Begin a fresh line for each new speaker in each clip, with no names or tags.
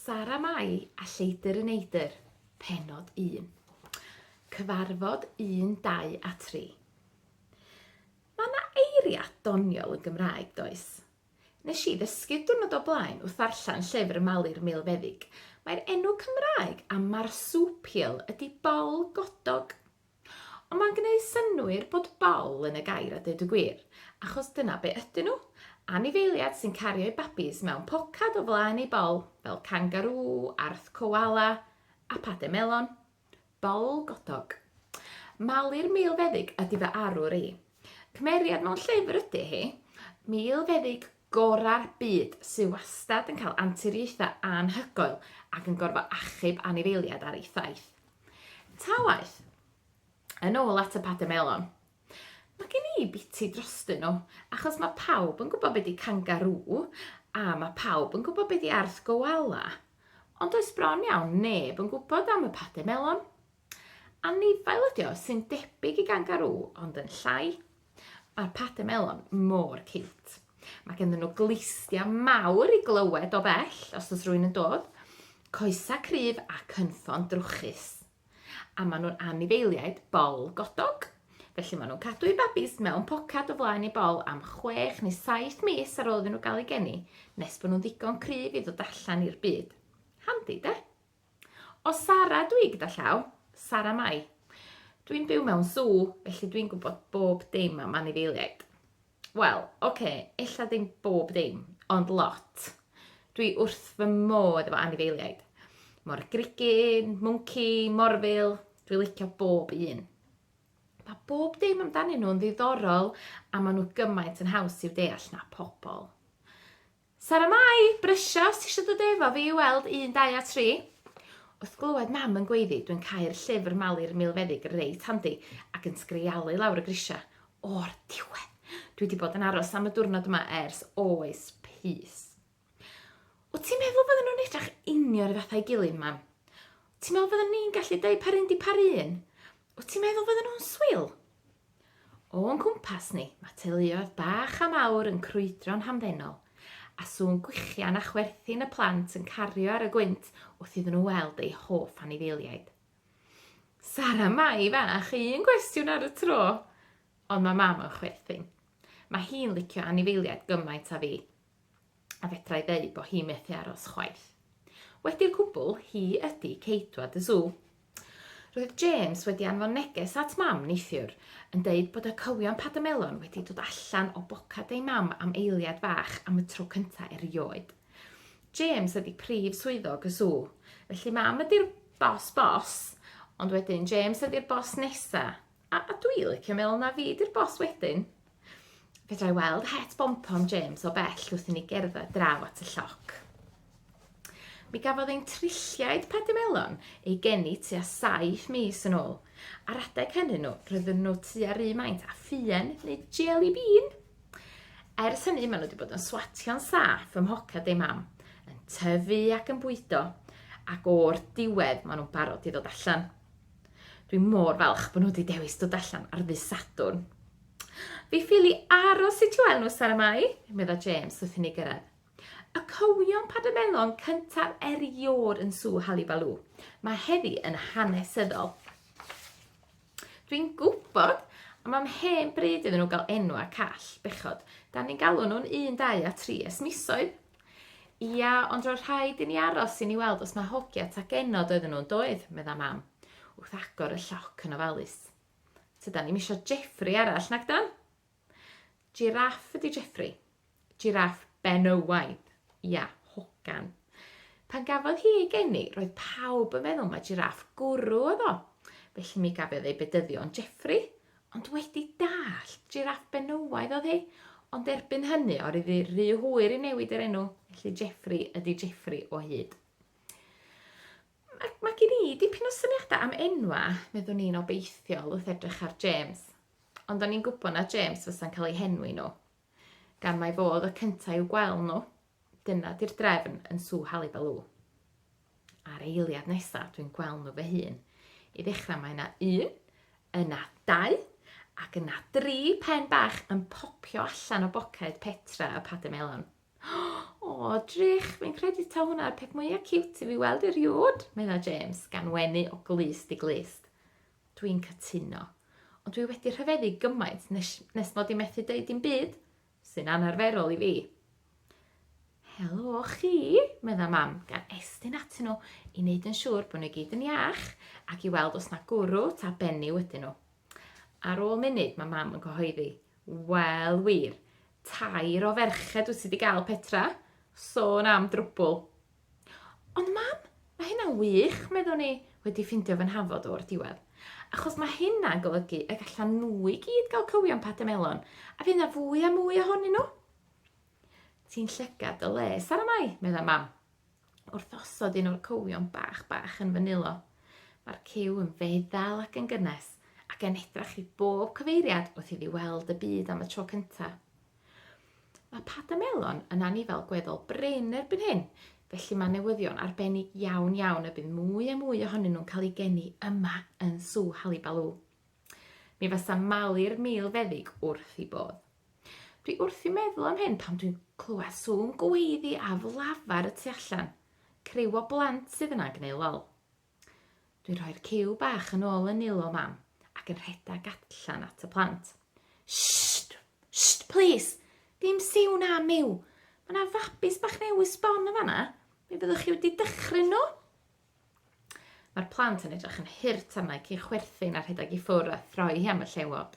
Sara Mai a Lleidr y Neidr, Pennod 1. Cyfarfod 1, 2 a 3. Mae yna eiriau doniol yn Gymraeg, does? Nes i ddysgu diwrnod o blaen wrth ddarllen llyfr y Malir Milfeddyg, mae'r enw Cymraeg am marsupial ydi bol godog. Ond mae'n gwneud synnwyr bod bol yn y gair a deud y gwir, achos dyna be ydyn nhw, anifeiliad sy'n cario'i babis mewn pocad o flaen ei bol, fel cangarŵ, arth coala, a pade melon. Bol godog. Malir Milfeddyg ydy fy arwr i. Cymeriad mewn llyfr ydy hi. Milfeddyg gorau'r byd sydd wastad yn cael anturiaethau anhygoel ac yn gorfod achub anifeiliaid ar ei thaith. Ta waeth, yn ôl at y Pate Melon, mae gen i biti drostyn nhw, achos mae pawb yn gwybod beth di cangarŵ, a mae pawb yn gwybod beth di arth goala, ond does bron iawn neb yn gwybod am y Pate Melon. Anifail ydi o sy'n debyg i gangarŵ ond yn llai. Mae'r pademelon mor ciwt. Mae genddyn nhw glustiau mawr i glywed o bell os oes rwy'n yn dod, coesau cryf a cynffon drwchus. A maen nhw'n anifeiliaid bol godog, felly maen nhw'n cadw eu babis mewn poced o flaen eu bol am chwech neu saith mis ar ôl iddyn nhw gael eu geni, nes bod nhw'n ddigon cryf i ddod allan i'r byd. Handi, de? O Sara dwi gyda llaw, Sara Mai. Dwi'n byw mewn sw, felly dwi'n gwybod bob dim am anifeiliaid. Wel, oce, okay, ella ddim bob dim, ond lot. Dwi wrth fy modd efo anifeiliaid. Mor grigyn, mwnci, morfil, dwi licio bob un. Mae bob dim amdanyn nhw'n ddiddorol a maen nhw gymaint yn haws i'w deall na pobl. Sara Mai, Brysia os tisio dod efo fi i weld un, dau a tri. Wrth glywed mam yn gweiddi, dwi'n cau'r llyfr Malu'r Milfeddyg reit handi ac yn sgrialu lawr y grisia. O'r diwedd! Dwi 'di bod yn aros am y diwrnod yma ers oes pys. Wt ti'n meddwl bydden nhw'n edrach union 'r un fath a'i gilydd, mam? Ti'n meddwl fydden ni'n gallu deud pa run 'di pa run? Wyt ti'n meddwl fydden nhw'n swil? O'n cwmpas ni, mae teuluoedd bach a mawr yn crwydro'n hamddenol, a sŵn gwichian a chwerthin y plant yn cario ar y gwynt wrth iddyn nhw weld eu hoff anifeiliaid. Sara Mai fach, un gwestiwn ar y tro. Ond mae mam yn chwerthin. Mae hi'n licio anifeiliaid gymaint a fi. a fedrai ddeu bo hi methu aros chwaith. Wedi'r cwbl, hi ydi Ceidwad y Sw. Roedd James wedi anfon neges at Mam neithiwr, yn deud bod y cywion padamelon wedi dod allan o bocad ei mam am eiliad fach am y tro cynta erioed. James ydi prif swyddog y Sw, felly Mam ydi'r bos bos, ond wedyn James ydi'r bos nesa, A dw i licio meddwl na fi 'di'r boss wedyn. Fedra i weld het bompom James o bell wrth i ni gerdded draw at y lloc. Mi gafodd ein trilliaid padimelon ei geni tua saith mis yn ôl. Ar adeg hynny nhw, roedden nhw tua rhy maint a ffien neu jelly bean. Ers hynny, maen nhw wedi bod yn swatio'n saff ym mhocad ei mam, yn tyfu ac yn bwydo, ac o'r diwedd maen nhw'n barod i ddod allan. Dwi mor falch bod nhw wedi dewis dod allan ar ddydd Sadwrn. Fi ffili aros i ti weld nhw, Sara Mai, medda James wrth i ni gyrraedd. Y cywion padamelon cyntaf erioed yn Sŵ Halibalŵ. Mae heddi yn hanesyddol. Dwi'n gwybod, a mae'n hen bryd iddyn nhw gael enw a call, bechod. Da ni'n galw nhw'n un, dau a tri es misoedd. Ia, ond roedd rhaid i ni aros i ni weld os mae hogia ta genod oedden nhw yn doedd, medda Mam, wrth agor y lloc yn ofalus. Tydan ni'm isio Jeffrey arall, nag dan? Jiraff ydi Jeffrey. Jiraff benywaidd. Ia, hogan. Pan gafodd hi ei geni, roedd pawb yn meddwl mae jiraff gwrw oedd o. Felly mi gafiodd ei bedyddio yn Jeffrey, Ond wedi dallt, jiráff benywaidd oedd hi. Ond erbyn hynny, or iddi rhy hwyr i newid yr enw, felly Jeffrey ydi Jeffrey o hyd. Mae, mae gen i dipyn o syniadau am enwa, meddwn i'n obeithiol wrth edrych ar James. Ond o'n i'n gwybod na James fysa'n cael ei henwi nhw. gan mai fo oedd y cynta i'w gwel nhw. Dyna di'r drefn yn Sŵ Halibelw. A'r eiliad nesa dwi'n gwel nhw fy hun. I ddechra mae yna un, yna dau, ac yna dri pen bach yn popio allan o boced Petra y Pade Melon. O, drych, fi'n credu ta hwnna'r peth mwyaf ciwt i fi weld erioed, medda James, gan wenu o glust i glust. Dwi'n cytuno. Ond dwi wedi rhyfeddu gymaint nes, nes mod i methu deud dim byd, sy'n anarferol i fi. Helo chi, medda mam, gan estyn atyn nhw i wneud yn siŵr bod nhw gyd yn iach ac i weld os na gwrw ta benni wedyn nhw. Ar ôl munud, mae mam yn cyhoeddi, wel wir, tair o ferched wyt ti wedi gael Petra, sôn am drwbwl. Ond mam, mae hynna'n wych, meddwn i, wedi ffindio fy nhafod o'r diwedd. Achos mae hynna'n golygu y gallan nhw i gyd gael cywion pate melon, a fydd yna fwy a mwy ohonyn nhw. Ti'n llygad dy le, Sara Mai, meddai mam, wrth osod un o'r cywion bach bach yn fy nilo. Mae'r cyw yn feddal ac yn gynnes, ac yn edrach i bob cyfeiriad wrth iddi weld y byd am y tro cyntaf. Mae Padamelon yn anifail gweddol brin erbyn hyn, felly mae newyddion arbennig iawn iawn y bydd mwy a mwy ohonyn nhw'n cael eu geni yma yn Sŵ Halibalŵ. Mi fasa malu'r mil feddyg wrth i bodd. Dwi wrth i meddwl am hyn pan dwi'n clywed sŵn gweiddi a flafar y tu allan. Criw o blant sydd yna'n gneud lol. Dwi'n rhoi'r ciw bach yn ôl yn nilo mam ac yn rhedeg allan at y plant. Sst! Sst, plis! Dim siw na miw! Mae yna fabis bach newydd sbon yn fanna. Mi fyddwch chi wedi dychryn nhw? Mae'r plant yn edrych yn hurt arna i chwerthin a rhedeg i ffwrdd a throi hi am y llewod.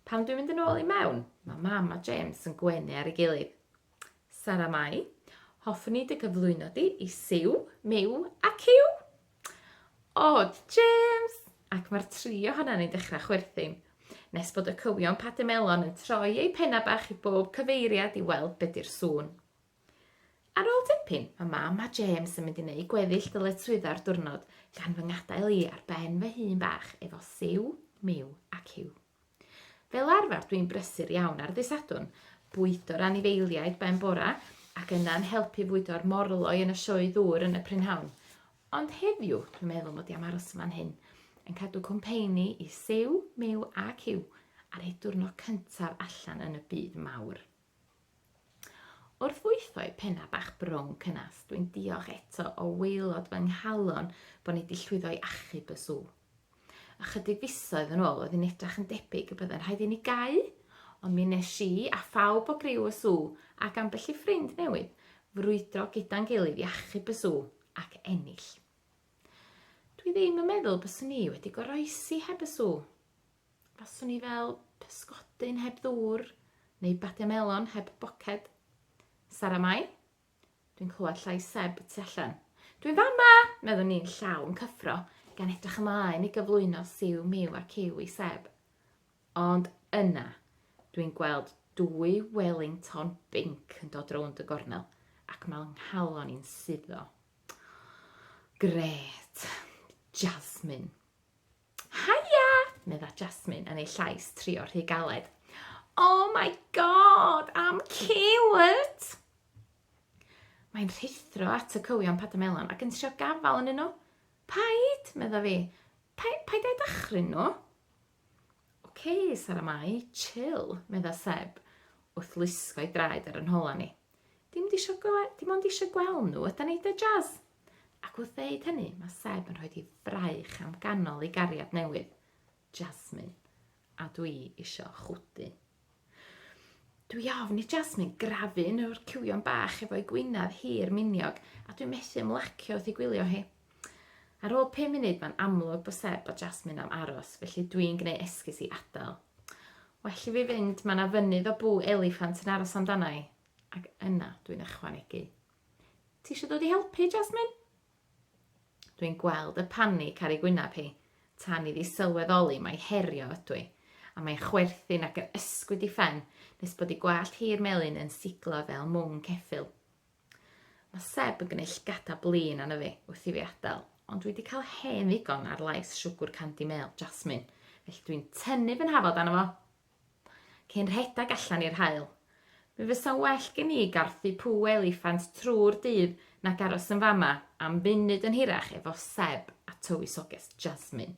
Pan dwi'n mynd yn ôl i mewn, mae mam a James yn gwenu ar ei gilydd. Sara Mai, hoffwn i dy gyflwyno di i Siw, Miw a Cyw! O, James! Ac mae'r tri ohonan ni'n dechrau chwerthin, nes bod y cywion pate melon yn troi eu penna bach i bob cyfeiriad i weld be di'r sŵn. Ar ôl dipyn, mae mam a James yn mynd i wneud gweddill dyletswyddo'r diwrnod gan fy ngadael i ar ben fy hun bach efo siw, miw a cyw. Fel arfer dwi'n brysur iawn ar ddy Sadwrn, bwydo'r anifeiliaid ben bora ac yna'n helpu fwydo'r morloi yn y sioe ddŵr yn y prynhawn. Ond heddiw dwi'n meddwl mod i am aros yma'n hyn, yn cadw cwmpeini i Siw, Miw a Cyw ar eu diwrnod cyntaf allan yn y byd mawr. Wrth fwytho'i pennau bach brown cynnes, dwi'n diolch eto o waelod fy nghalon bod ni wedi llwyddo i achub y sw. Ychydig fisoedd yn ôl oedd yn edrach yn debyg y bydde'n rhaid i ni gau, ond mi nes i a phawb o griw y sw, ac ambell i ffrind newydd, frwydro gyda'n gilydd i achub y sw ac ennill. Dwi ddim yn meddwl byswn i wedi goroesi heb y sw. Faswn i fel pysgodyn heb ddŵr neu badia melon heb boced. Sara Mai, Dwi'n clywed llais Seb tu allan. Dwi'n fama! meddwn ni'n llawn cyffro, gan edrych ymlaen i gyflwyno siw miw a ciw i Seb. Ond yna, dwi'n gweld dwy Wellington binc yn dod rownd y gornel ac mae nghalon i'n suddo. Gret! Jasmine. Haia! medda Jasmine yn ei llais trio rhy galed. Oh my god, am cute! Mae'n rhithro at y cywion padamelon ac yn trio gafael yn nhw. Paid, medda fi. Paid, paid ei dachryn nhw. Oce, okay, Sara Mai, chill, medda Seb, wrth lusgo ei draed ar yn hola ni. Dim di eisiau gweld, dim ond eisiau gweld nhw, yda neud y jazz. Ac wrth ddeud hynny, mae Seb yn rhoi di fraich am ganol ei gariad newydd, Jasmine, a dwi isio chwdu. Dwi ofn i Jasmine grafu yn o'r cywion bach efo'i gwynedd hir miniog, a dwi'n methu ymlacio wrth ei gwylio hi. Ar ôl 5 munud mae'n amlwg bod Seb a Jasmine am aros, felly dwi'n gwneud esgus i adael. Well i fi fynd, mae yna fynydd o bw eliffant yn aros amdana i. Ac yna dwi'n ychwanegu. Ti eisiau dod i helpu, Jasmine? Dwi'n gweld y panig ar ei gwyneb hi, tan iddi sylweddoli mae herio ydw i, a mae'n chwerthin ac yn ysgwyd i ffen nes bod ei gwallt hi'r melyn yn siglo fel mwng ceffyl. Mae Seb yn gwneud llgada blin anna fi wrth i fi adael, ond dwi wedi cael hen ddigon ar lais siwgwr candy mêl, Jasmine, felly dwi'n tynnu fy nhafod anna fo. cyn rhedeg allan i'r haul. Mi fysa'n well gen i garthu pŵ eliffant trwy'r dydd nag aros yn fama am funud yn hirach efo Seb a tywysoges Jasmine.